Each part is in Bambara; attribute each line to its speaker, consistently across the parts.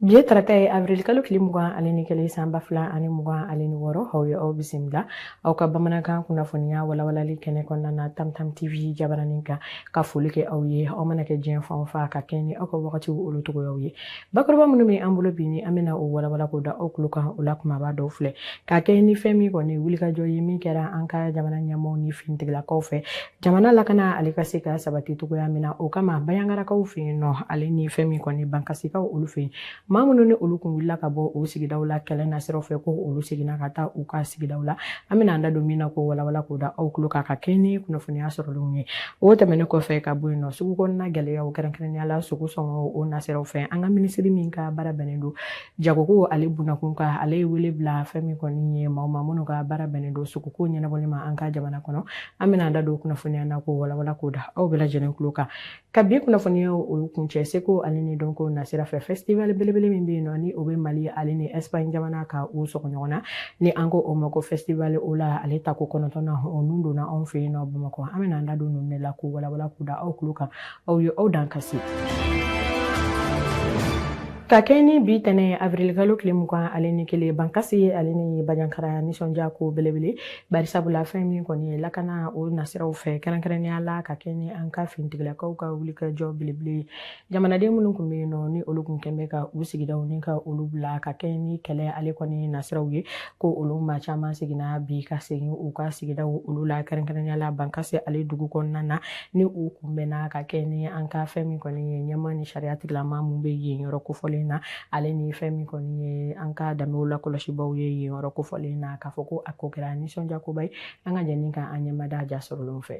Speaker 1: Bi ye tarata ye avril kalo tile mugan ale ni kelen san ba fila ani mugan ale ni wɔɔrɔ aw ye aw bisimila aw ka bamanankan kunnafoniya walawalali kɛnɛ kɔnɔna na tamtam tv jabaranin kan ka foli kɛ aw ye aw mana kɛ diɲɛ fan o fan ka kɛɲɛ ni aw ka wagatiw olu cogoyaw ye bakuruba minnu bɛ an bolo bi ni an bɛna o walawala k'o da aw tulo kan o la kumaba dɔw filɛ ka kɛ ni fɛn min kɔni wulikajɔ ye min kɛra an ka jamana ɲɛmaaw ni finitigilakaw fɛ jamana lakana ale ka se ka sabati cogoya min na o kama banjagarakaw fɛ yen nɔ ale ni fɛn min kɔni bankasikaw olu fɛ yen maa minnu ni olu kun wulila ka bɔ o sigidaw la kɛlɛ nasiraw fɛ ko olu seginna ka taa u ka sigidaw la an bɛna an da don min na k'o walawala k'o da aw tulo kan ka kɛ ni kunnafoniya sɔrɔlenw ye o tɛmɛnen kɔfɛ ka bɔ yen nɔ sugu kɔnɔna gɛlɛyaw kɛrɛnkɛrɛnnenya la sogo sɔngɔ o nasiraw fɛ an ka minisiri min ka baara bɛnnen don jagoko ale bunakun ka ale ye wele bila fɛn min kɔni ye maa maa minnu ka baara bɛnnen don sogokow ɲɛnabɔli ma an ka jamana kɔnɔ an bɛna an da don kunnafoniya na k'o walawala k'o da aw bɛɛ lajɛlen tulo kan ka bi kunnafoniyaw olu kuncɛ seko ale ni dɔnko nasira fɛ festival belebele min bɛ yen nɔ ni o bɛ mali ale ni espagne jamana ka u sɔgɔ ɲɔgɔn na ni an ko o ma ko festival hola ale tako kɔnɔntɔnnan o nun donna anw fɛ yen nɔ bamakɔ an bɛna an da don ninnu de la k'u walawala k'u da aw tulo kan aw ye aw dan kasi ka kɛ ni bi tɛnɛ avril kalo tile mugan ale ni kelen bankasi ale ni banjagara nisɔndiya ko belebele bari sabula fɛn min kɔni ye lakana o nasiraw fɛ kɛrɛnkɛrɛnnenya la ka kɛ ni an ka finitigilakaw ka wulikajɔ belebele ye jamanaden minnu tun bɛ yen nɔ ni olu tun kɛn bɛ ka u sigidaw ni ka olu bila ka kɛ ni kɛlɛ ale kɔni nasiraw ye ko olu maa caman seginna bi ka segin u ka sigidaw olu la kɛrɛnkɛrɛnnenya la bankasi ale dugu kɔnɔna na ni u kunbɛnna ka kɛ ni an ka fɛn min kɔni ye ɲɛmaa ni sariya tigilama min bɛ yen yɔrɔ kofɔlen na ale ni fɛn min kɔni ye an ka danbew la kɔlɔsibaw ye yen yɔrɔ kofɔlen na k'a fɔ ko a ko kɛra nisɔndiyakoba ye an ka jɛ ni ka an ɲɛ mada ja sɔrɔlenw fɛ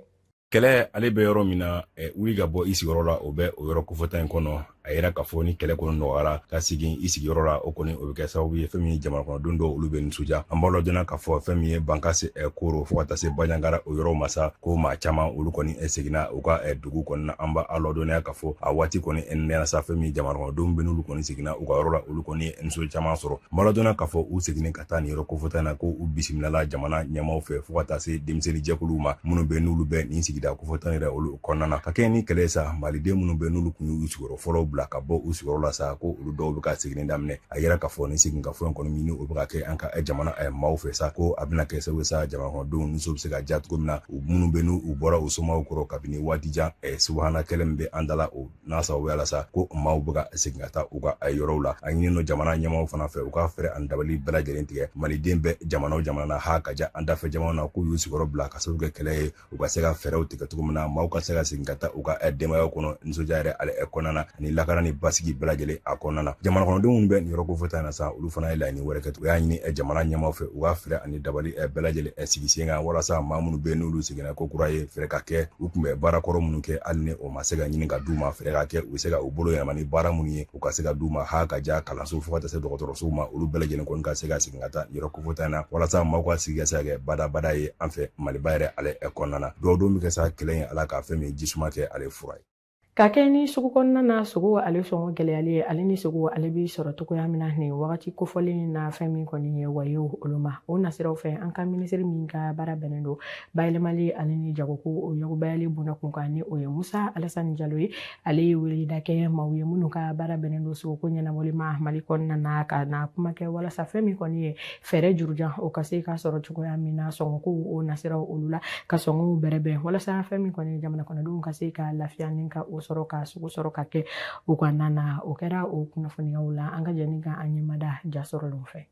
Speaker 1: kɛlɛ ale bɛ
Speaker 2: yɔrɔ min na eh, wuli ka bɔ i sigiyɔrɔ la o bɛ o yɔrɔ kofɔta in kɔnɔ a yira k'a fɔ ni kɛlɛ kɔni nɔgɔyara ka segin i sigiyɔrɔ la o kɔni o bɛ kɛ sababu ye fɛn min ye jamana kɔnɔden dɔw olu bɛ nisɔndiya an b'a lɔdɔnniya k'a fɔ fɛn min ye bankasi eh, koro fɔɔ ka taa se banjagara o yɔrɔw ma sa ko maa caaman olu kɔni eh, seginna u ka dugu kɔnɔna an b'a lɔdɔnniya k'a fɔ a waati kɔni ɛnɛya sa fɛn min ye jamanakɔnɔdenw bɛ n'olu kɔni seginna u ka yɔrɔ la olu kɔni ye ɛnso caman sɔrɔ an b'a lɔdɔnniya k'a fɔ u seginnen ka taa nin yɔrɔ kofɔta in na ko u bisimilala jamana ɲɛmaaw fɛ fɔɔ ka taa se denmisɛnnin jɛkuluw ma minnu bɛ n'olu bɛ nin sigida kofɔta yɛrɛ olu kɔnɔna na ka kɛɲɛ ni kɛlɛ sa maliden minnu bɛ n'olu kun y'u sigiyɔrɔ fɔlɔw bila ka bɔ u sigiyɔrɔ la sa ko olu dɔw bɛ ka seginni daminɛ a yira k'a fɔ ni segin ka fɔ in kɔni min ni o bɛ ka kɛ an ka jamana maaw fɛ sa ko a bɛna kɛ sababu sa jamanakɔnɔdenw nisɔn bɛ se ka diya cogo min na u minnu bɛ n'u u bɔra u somaw kɔrɔ kabini waati jan subahana kɛlɛ min bɛ an dala o n'a sababuya la sa ko maaw bɛ ka segin ka taa u ka yɔrɔw la a ɲini don jamana ɲɛmaaw fana fɛ u ka fɛɛrɛ ani dabali bɛɛ lajɛlen tigɛ maliden bɛ jamana o jamana na ha ka ja an dafɛ jamana na k'u y'u sigiyɔrɔ bila ka sababu kɛ kɛlɛ ye u ka se ka fɛɛrɛw tigɛ cogo min na maaw ka se ka segin ka taa u ka denbayaw kɔnɔ nisɔndiya yɛrɛ ale kɔnɔna na ani lakana ni basigi bɛɛ lajɛlen a kɔnɔna na jamana kɔnɔdenw minnu bɛ nin yɔrɔ kofɔta in na sa olu fana ye laɲini wɛrɛ kɛ u y'a ɲini jamana ɲɛmaaw fɛ u ka fɛɛrɛ ani dabali bɛɛ lajɛlen sigi sen kan walasa maa minnu bɛ n'olu seginna ko kura ye fɛɛrɛ ka kɛ u tun bɛ baara kɔrɔ minnu kɛ hali ni o ma se ka ɲini ka d'u ma fɛɛrɛ ka kɛ u bɛ se ka u bolo yɛlɛma ni baara minnu ye u ka se ka d'u ma ha ka ja kalanso fo ka taa se dɔgɔtɔrɔsow ma olu bɛɛ lajɛlen kɔni ka se ka segin ka taa yɔrɔ kofɔta in na walasa maaw ka sigi ka se ka kɛ badabada ye an fɛ maliba yɛrɛ ale kɔnɔna na dugawu don bɛ kɛ sa kɛlɛ in ala ka fɛn min jisuma kɛ ale fura ye ka kɛɲɛ
Speaker 1: ni sugu kɔnɔna na sogo ale sɔngɔ gɛlɛyali ye ale ni sogo ale bɛ sɔrɔ cogoya min na nin wagati kofɔlen na fɛn min kɔni ye wayew olu ma o nasiraw fɛ an ka minisiri min ka baara bɛnnen don bayɛlɛmali ale ni jagoko o yɔgɔbayali bɔnna kun kan ni o ye musa alasani jalo ye ale ye weleda kɛ maaw ye minnu ka baara bɛnnen don sogoko ɲɛnabɔli ma mali kɔnɔna na ka na kuma kɛ walasa fɛn min kɔni ye fɛɛrɛ jurujan o ka se ka sɔrɔ cogoya min na sɔngɔkow o nasiraw olu la ka sɔngɔw bɛrɛbɛn walasa fɛn min kɔni jamana kɔnɔdenw ka se ka lafiya ni ka o sɔrɔ ka sogo sɔrɔ ka kɛ u ka na na o kɛra o kunnafoniyaw la an ka jɛ ni ka an ɲɛmada ja sɔrɔlenw fɛ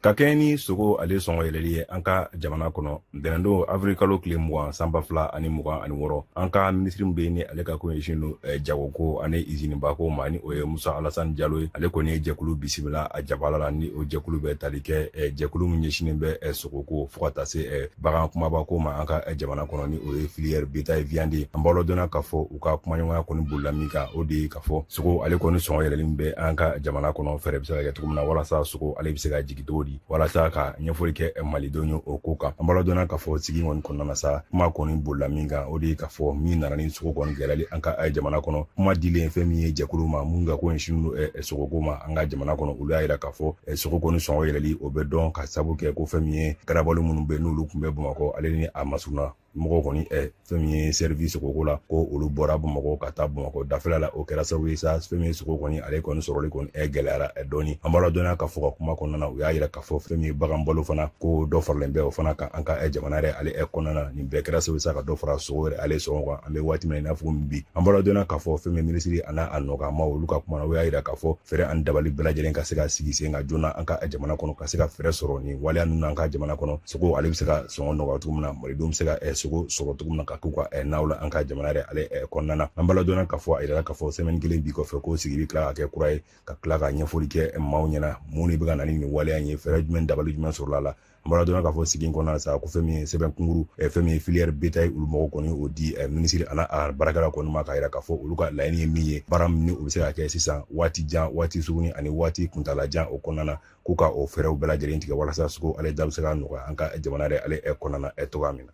Speaker 1: ka kɛɲɛ
Speaker 2: ni sogo ale sɔngɔ yɛlɛli ye an ka jamana kɔnɔ ntɛnɛndon avril kalo tile mugan san ba fila ani mugan ani wɔrɔ an ka minisiri min bɛ yen ni ale ka ko ɲɛsin don eh, jagoko ani izinibako ma ni o ye musa alasan jalo ye ale kɔni ye jɛkulu bisimila a jabala la ni o jɛkulu bɛ tali kɛ eh, jɛkulu min ɲɛsinin bɛ eh, sogoko fo ka taa se bagan kumabako ma an ka jamana kɔnɔ ni o ye filière bétail viande an b'a ladɔnniya k'a fɔ u ka kumaɲɔgɔnya kɔni bolila min kan o de ye k'a fɔ sogo ale kɔni sɔngɔ yɛlɛlen bɛ an ka jamana kɔnɔ fɛɛrɛ bɛ se ka kɛ cogo min na walasa sogo ale bɛ se ka jigin cogo di walasa ka ɲɛfɔli kɛ eh, malidenw ye o ko kan an b'a ladɔnniya k'a fɔ sigi kɔni kɔnɔna na sa kuma kɔni bolila min kan o de ye k'a fɔ min nana ni sogo kɔni gɛlɛyali an ka eh, jamana kɔnɔ kuma dilen fɛn min ye jɛkulu ma mun ka ko ɲɛsinnen eh, sogoko ma an ka jamana kɔnɔ olu y'a yira k'a fɔ sogo kɔni sɔngɔ yɛlɛli o bɛ dɔn ka sabu kɛ ko fɛn min ye garabali minnu bɛ n'olu tun bɛ bamakɔ ale ni a masurunna mɔgɔ kɔni ɛ fɛn min ye servi sogoko la ko olu bɔra bamakɔ ka taa bamakɔ dafɛla la o kɛra sababu ye sa fɛn min ye sogo kɔni ale kɔni sɔrɔli kɔni ɛ gɛlɛyara ɛ dɔɔni an b'a ladɔnniya k'a fɔ ka kuma kɔnɔna na u y'a yira k'a fɔ fɛn min ye bagan balo fana ko dɔ faralen bɛ o fana kan an ka ɛ jamana yɛrɛ ale ɛ kɔnɔna na nin bɛɛ kɛra sababu sa ka dɔ fara sogo yɛrɛ ale sɔngɔ kan an bɛ waati min na i n'a fɔ min bi an b'a ladɔnniya k'a fɔ fɛn min ye minisiri a n'a nɔkanmaa olu ka kuma na u y'a yira k'a fɔ fɛɛrɛ ani dabali bɛɛ lajɛlen ka se ka sigi sen kan joona an ka jamana kɔnɔ ka se ka fɛɛrɛ sɔrɔ nin waleya ninnu na an ka jamana kɔnɔ sogo ale bɛ se ka sɔngɔ nɔgɔya cogo min na malidenw bɛ se ka eh, sogo sɔrɔ cogo min na ka k'u ka eh, naw la an ka jamana yɛrɛ ale eh, kɔnɔna na an b'a ladɔnniya k'a fɔ a yirala k'a fɔ sɛmɛni kelen bi kɔfɛ ko sigi bɛ tila ka kɛ kura ye ka tila ka ɲɛfɔli kɛ maaw ɲɛna mun de bɛ ka na ni nin waleya in ye fɛɛrɛ jumɛn dabali jumɛn sɔrɔla la an b'a ladɔnniya k'a fɔ sigi in kɔnɔna na sa ko fɛn min ye sɛbɛn kunkuru eh, fɛn min ye filière bétail olu mɔgɔw kɔni o di eh, minisiri an'a baarakɛla kɔni ma k'a yira k'a fɔ olu ka laɲini ye min ye baara min ni o bɛ se ka kɛ sisan waati jan waati surunin ani waati kuntala jan o kɔnɔna na k'u ka o fɛɛrɛw bɛɛ lajɛlen tigɛ walasa sogo ale da bɛ se ka nɔgɔya an ka jamana yɛrɛ ale kɔnɔna na cogoya min na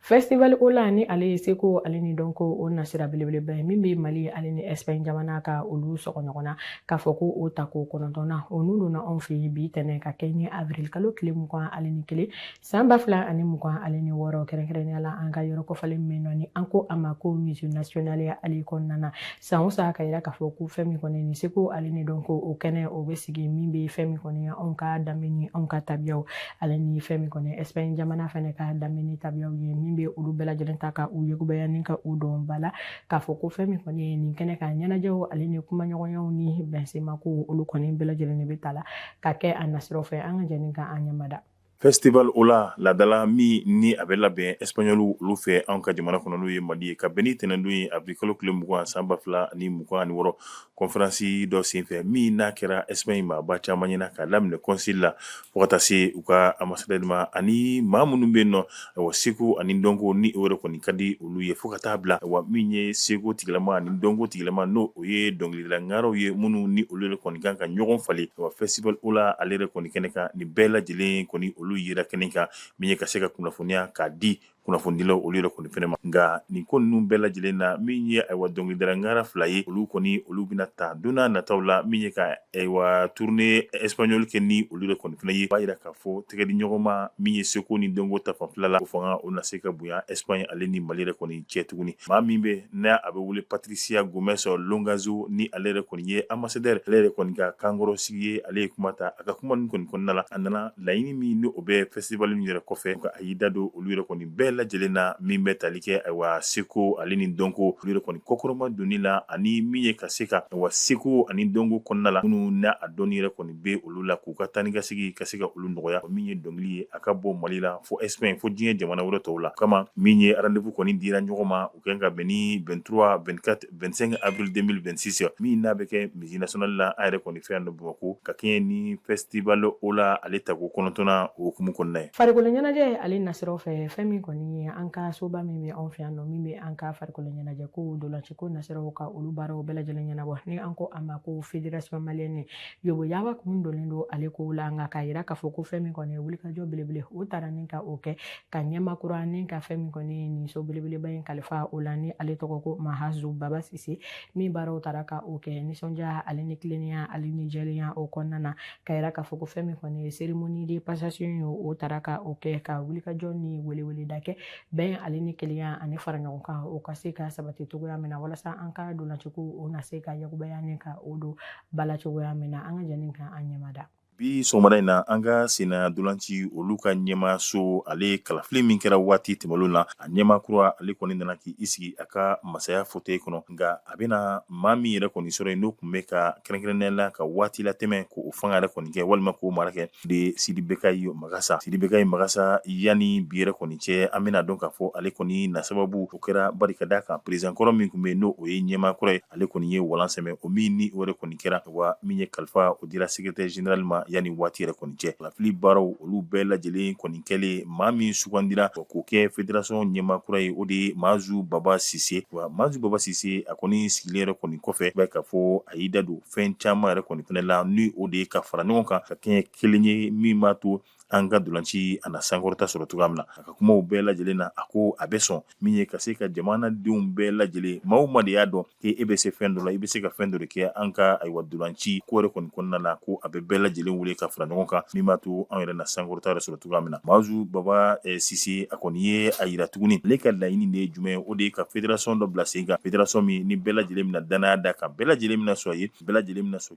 Speaker 2: Festival
Speaker 1: Hola ni ale ye seko ale ni dɔnko o nasira belebeleba ye min bɛ Mali ale ni Espagne jamana ka olu sɔgɔ ɲɔgɔn na k'a fɔ ko o tako kɔnɔntɔnnan o n'u donna anw fɛ yen bi tɛnɛn ka kɛɲɛ ni avril kalo tile mugan ale ni kelen San ba fila ani mugan ale ni wɔɔrɔ kɛrɛnkɛrɛnnenya la an ka yɔrɔ kofɔlen min nɔ ni an ko a ma ko musée national yan ale kɔnɔna na san o san ka jira k'a fɔ ko fɛn min kɔni ni seko ale ni dɔnko o kɛnɛ o bɛ sigi min bɛ fɛn min kɔni anw ka danbe ni anw ka tabiyaw ale ni fɛn min kɔni Espagne jamana fana ka danbe ni tabiyaw ye min bɛ olu bɛɛ lajɛlen ta ka u yugubaya ni ka u don ba la k'a fɔ ko fɛn min kɔni ye nin kɛnɛ ka ɲɛnajɛw ale ni kumaɲɔgɔnyaw ni bɛnsenma ko olu kɔni bɛɛ lajɛlen de bɛ ta la ka kɛ a nasiraw fɛ an ka jɛ ni ka an ɲɛmada Festival Hola
Speaker 3: ladala min ni a bɛ labɛn espagnol olu fɛ an ka jamana kɔnɔ n'o ye mali ye ka bɛn ni ntɛnɛndon ye avril kalo tile mugan san ba fila ni mugan ani wɔɔrɔ conférence dɔ senfɛ min n'a kɛra Espagne maaba caman ɲɛna k'a daminɛ consul la fo ka taa se u ka ambassadeur ma ani maa minnu bɛ nɔ wa seko ani dɔnko ni o yɛrɛ kɔni ka di olu ye fo ka taa bila wa min ye seko tigilama ani dɔnko tigilama n'o o ye dɔnkilidala ŋaraw ye minnu ni olu yɛrɛ kɔni kan ka ɲɔgɔn falen wa festival Hola ale yɛrɛ kɔni kɛnɛ kan nin bɛɛ lajɛlen kɔni olu yera kɛnɛ kan min ye ka se ka kunnafoniya k'a di kunnafonidilaw olu yɛrɛ kɔni fɛnɛ ma nka nin ko ninnu bɛɛ lajɛlen na min ye ayiwa dɔnkilidala ŋara fila ye olu kɔni olu bɛna taa don na nataw la min ye ka Ayiwa tournée espagnole kɛ ni olu yɛrɛ kɔni fana ye b'a jira k'a fɔ tɛgɛ di ɲɔgɔnma min ye seko ni dɔnko ta fanfɛla la o fanga o na se ka bonya Espagne ale ni mali yɛrɛ kɔni cɛ tuguni maa min bɛ n'a bɛ wele Patricia Gomez Lanzaco ni ale yɛrɛ kɔni ye ambassadeur ale yɛrɛ kɔni ka kankɔrɔsigi ye ale ye kuma ta a ka kuma nin kɔni kɔnɔna la a nana laɲini min ni o bɛ festival nin yɛrɛ kɔfɛ donc a y'i da don olu yɛrɛ kɔni bɛɛ lajɛlen na min bɛ tali kɛ wa seko ale ni dɔnko olu yɛrɛ kɔni kɔkɔrɔmadonni la ani min ye ka se ka wa seko ani dɔnko kɔnɔna la minnu n'a dɔnni yɛrɛ kɔni bɛ olu la k'u ka taa ni ka segin ka se ka olu nɔgɔya min ye dɔnkili ye a ka bɔ mali la fo Espagne fo diɲɛ jamana wɛrɛ tɔw la kama min ye rendez-vous kɔni dira ɲɔgɔn ma u kan ka bɛn ni vingt-trois vingt-quatre 25 avril 2026 min n'a bɛ kɛ musée national la a yɛrɛ kɔni fɛ yan nɔ bamakɔ ka kɛɲɛ ni festival Hola ale tako kɔnɔntɔnnan o hukumu kɔnɔna ye farikolo ɲɛnajɛ ale
Speaker 1: nasira fɛ fɛn min kɔni ye an ka soba min bɛ anw fɛ yan nɔ min bɛ an ka farikolo ɲɛnajɛ ko dolanci ko nasiraw ka olu baara bɛɛ lajɛlen ɲɛnabɔ ni an ko a ma ko fédération malienne yɔgo yaba kun donnen don ale ko la nka k'a yira k'a fɔ ko fɛn min kɔni ye wulikajɔ belebele o taara ni ka o kɛ ka ɲɛmaa kura ni ka fɛn min kɔni ye nin so belebeleba in kalifa o la ni ale tɔgɔ ko mahazu baba sise min baaraw taara ka o kɛ nisɔndiya ale ni tilennenya ale ni jɛlenya o kɔnɔna na ka yira k'a fɔ ko fɛn min kɔni ye cérémonie de passation ye o taara ka o kɛ ka wulikajɔ ni weleweleda kɛ bɛn ale ni kelenya ani fara ɲɔgɔn kan o ka se ka sabati cogoya min na walasa an ka dolanci ko o na se ka yakubaya ni ka o don ba la cogoya min na an ka jɛ ni ka an ɲɛmada Bi sɔgɔmada in
Speaker 3: na an ka sena dolanci olu ka ɲɛmaaso ale ye kalafili min kɛra waati tɛmɛnenw na a ɲɛmaa kura ale kɔni nana k'i sigi a ka masaya fauteuil kɔnɔ nka a bɛna maa min yɛrɛ kɔni sɔrɔ yen n'o tun bɛ ka kɛrɛnkɛrɛnnenya la ka waati latɛmɛ k'o fanga yɛrɛ kɔni kɛ walima k'o mara kɛ o de ye Sidi Bekayi Magasa, Sidi Bekayi Magasa yanni bi yɛrɛ kɔni cɛ an bɛna dɔn k'a fɔ ale kɔni na sababu o kɛra bari ka d'a kan président kɔrɔ min tun bɛ yen n'o o ye ɲɛmaa kura ye ale kɔni ye walan sɛmɛ o min ni o yɛrɛ kɔni kɛra wa min ye kalifa dira secrétaire général ma yanni waati yɛrɛ kɔni cɛ kalafili baaraw olu bɛɛ lajɛlen kɔni kɛlen maa min sugandira k'o kɛ fédération ɲɛmaa kura ye o de ye mazu baba sise wa mazu baba sise a kɔni sigilen yɛrɛ kɔni kɔfɛ bɛ k'a fɔ a y'i da don fɛn caman yɛrɛ kɔni fɛnɛ la ni o de ye ka fara ɲɔgɔn kan ka kɛ kelen ye min b'a to an ka dolanci a na sankɔrɔta sɔrɔ cogoya min na a ka kumaw bɛɛ lajɛlen na a ko a bɛ sɔn min ye ka se ka jamanadenw bɛɛ lajɛlen maa o maa de y'a dɔn k'e bɛ se fɛn dɔ la i bɛ se ka fɛn dɔ de kɛ an ka ayiwa dolanci ko yɛrɛ kɔni kɔnɔna na ko a bɛ bɛɛ lajɛlen wele ka fara ɲɔgɔn kan min b'a to an yɛrɛ na sankɔrɔta yɛrɛ sɔrɔ cogoya min na mazu baba eh, sise a kɔni ye a yira tuguni ale ka laɲini de ye jumɛn o de ye ka fédération dɔ bila sen kan fédération min ni bɛɛ lajɛlen mina dannaya da kan bɛɛ lajɛlen mina sɔn ye bɛɛ lajɛlen mina sɔn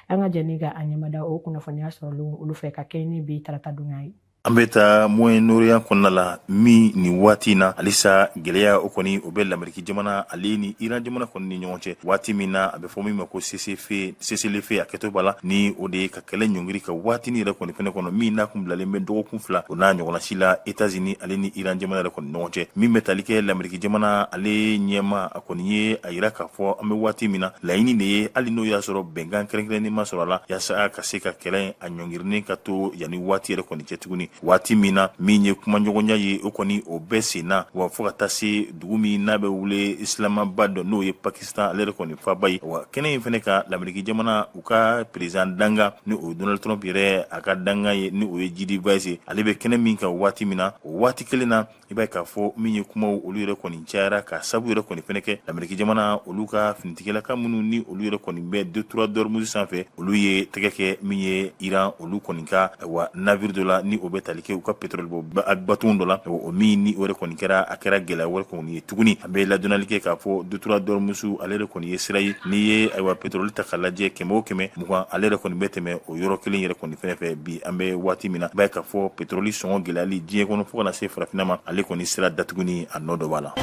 Speaker 1: an ka jɛ ni ka a ɲɛmada o kunnafoniya sɔrɔlen olu fɛ ka kɛɲɛ ni bi tarata donya ye an bɛ taa
Speaker 3: Moyen-Orient kɔnɔna la min nin waati na halisa gɛlɛya o kɔni o bɛ lameriki jamana ale ni iran jamana kɔni ni ɲɔgɔn cɛ waati min na a bɛ fɔ min ma ko cessez cessez-le-feu a kɛtɔ b'a la ni o de ye ka kɛlɛ ɲɔngiri ka waatini yɛrɛ kɔni fɛnɛ kɔnɔ min n'a kun bilalen bɛ dɔgɔkun fila o n'a ɲɔgɔnna si la etazini ale ni iran jamana yɛrɛ kɔni ɲɔgɔn cɛ min bɛ tali kɛ lameriki jamana ale ɲɛmaa kɔni ye a yira k'a fɔ an bɛ waati min na laɲini de ye hali n'o y'a sɔrɔ bɛnkan kɛrɛnkɛrɛnnen ma sɔrɔ a la yaasa ka se ka kɛlɛ a ɲɔngirinen ka to yanni waati yɛrɛ kɔni cɛ tuguni waati min na min ye kumaɲɔgɔnya ye o kɔni o bɛ sen na wa fo ka taa se dugu min n'a bɛ wele Islamabad n'o ye pakistan ale yɛrɛ kɔni faaba ye wa kɛnɛ in fɛnɛ kan lameriki jamana u ka président dankan ni o ye donald trump yɛrɛ a ka dankan ye ni o ye JD Vance ale bɛ kɛnɛ min kan waati min na o waati kelen na i b'a ye k'a fɔ min ye kumaw olu yɛrɛ kɔni cayara k'a sabu yɛrɛ kɔni fɛnɛ kɛ lameriki jamana olu ka finitigilaka minnu ni olu yɛrɛ kɔni bɛ détroit d'Ormuz sanfɛ olu ye tɛgɛ kɛ min ye iran olu kɔni ka ayiwa navire dɔ la ni o bɛ tali kɛ u ka petrolibɔ baton dɔ la o min ni o yɛrɛ kɔni kɛra a kɛra gɛlɛya wɛrɛ kɔni ye tuguni an bɛ ladɔnnali kɛ k'a fɔ détroit d'Ormuz ale yɛrɛ kɔni ye sira ye n'i ye ayiwa petroli ta k'a lajɛ kɛmɛ o kɛmɛ mugan ale yɛrɛ kɔni bɛ tɛmɛ o yɔrɔ kelen yɛrɛ kɔni fɛnɛ fɛ bi an bɛ waati min na i b'a ye k'a fɔ petroli sɔngɔ gɛlɛyali diɲɛ kɔnɔ fo ka na se farafinna ma ale kɔni sira datuguni a nɔ dɔ b'a la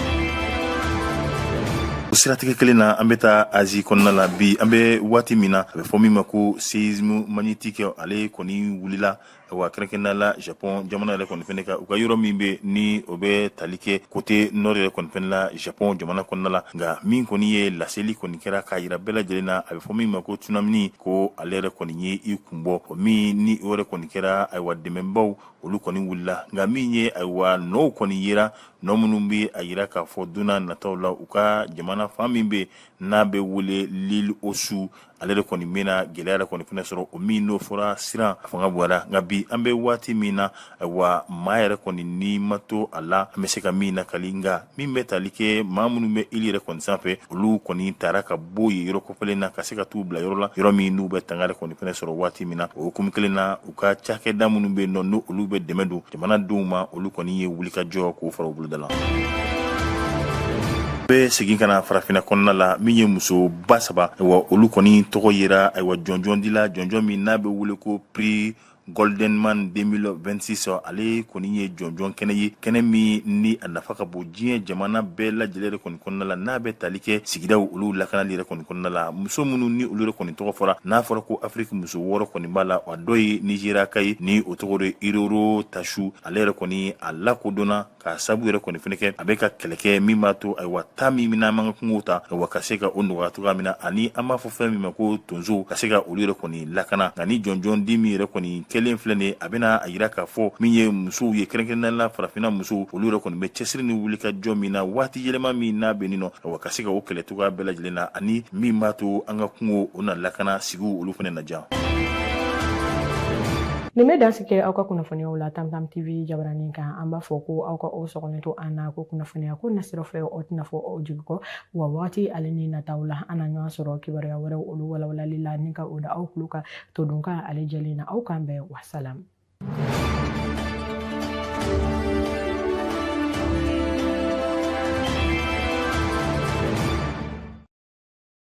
Speaker 3: o siratigɛ kelen na an bɛ taa azi kɔnɔna la bi an bɛ waati min na a bɛ fɔ min ma ko séisme magnétique ale kɔni wulila wa kɛrɛnkɛrɛnnenya la japon jamana yɛrɛ kɔni fɛnɛ ka u ka yɔrɔ min bɛ ni o bɛ tali kɛ côté nord yɛrɛ kɔni fɛnɛ la japon jamana kɔnɔna la nka min kɔni ye laseli kɔni kɛra k'a yira bɛɛ lajɛlen na a bɛ fɔ min ma ko tsunami ko ale yɛrɛ kɔni ye i kunbɔ o min ni o yɛrɛ kɔni kɛra ayiwa dɛmɛbaw olu kɔni wulila nka min ye ayiwa nɔw kɔni yera nɔ minnu bɛ a yira k'a fɔ donna nataw la u ka jamana fan min bɛ n'a bɛ wele l'île Honshu ale yɛrɛ kɔni bɛna gɛlɛya yɛrɛ kɔni fɛnɛ sɔrɔ o min n'o fɔra siran fanga bonyara nka bi an bɛ waati min na ayiwa maa yɛrɛ kɔni ni ma to a la an bɛ se ka min nakali nka min bɛ tali kɛ maa minnu bɛ ili yɛrɛ kɔni sanfɛ olu kɔni tara ka bɔ yen yɔrɔ kofɔlen na ka se ka t'u bila yɔrɔ la yɔrɔ min n'u bɛ tanga yɛrɛ kɔni fɛnɛ sɔrɔ waati min na o hukumu kelen na u ka cakɛda minnu bɛ yen nɔ n'o olu bɛ dɛmɛ don jamanadenw ma olu kɔni ye wulikajɔ k'o fara u boloda la an bɛ segin ka na farafinna kɔnɔna la min ye muso ba saba ayiwa olu kɔni tɔgɔ yera ayiwa jɔnjɔn di la jɔnjɔn min n'a bɛ wele ko prix Goldman 2026 ale kɔni ye jɔnjɔn kɛnɛ ye kɛnɛ min ni a nafa ka bon diɲɛ jamana bɛɛ lajɛlen yɛrɛ kɔni kɔnɔna la n'a bɛ tali kɛ sigidaw olu lakanali yɛrɛ kɔni kɔnɔna la muso minnu ni olu yɛrɛ kɔni tɔgɔ fɔra n'a fɔra ko afiriki muso wɔɔrɔ kɔni b'a la a dɔ ye nizeriyaka ye ni o tɔgɔ de ye iroro tanshi ale yɛrɛ kɔni a lakodɔnna k'a sabu yɛrɛ kɔni fɛnɛ kɛ a bɛ ka kɛlɛ kɛ min b'a to ayiwa taa min bɛna an ka kungo ta wa ka se ka o nɔgɔya cogoya min na ani an b'a fɔ fɛn min ma ko tonsow ka se ka olu yɛrɛ kɔni lakana nka ni jɔnjɔn di min yɛrɛ kɔni kɛlen filɛ nin a bɛna a yira k'a fɔ min ye musow ye kɛrɛnkɛrɛnnenya la farafinna musow olu yɛrɛ kɔni bɛ cɛsiri ni wulikajɔ min na waati yɛlɛma min n'a bɛ nin nɔ wa ka se ka o kɛlɛ cogoya bɛɛ lajɛlen na ani min b'a to an ka kungo o na lakana sigiw olu fɛnɛ na diya
Speaker 1: nin bɛ dan sigi aw ka kunnafoniyaw la tamtam tv jabaranin kan an b'a fɔ ko aw ka aw sɔgɔlen to an na ko kunnafoniya ko nasira fɛ o tɛna fɔ aw jigi kɔ wa waati ale ni nataw la an na ɲɔgɔn sɔrɔ kibaruya wɛrɛw olu walawalali la ni ka o da aw tulo kan todunkan ale jɛlen na aw k'an bɛn wasalamu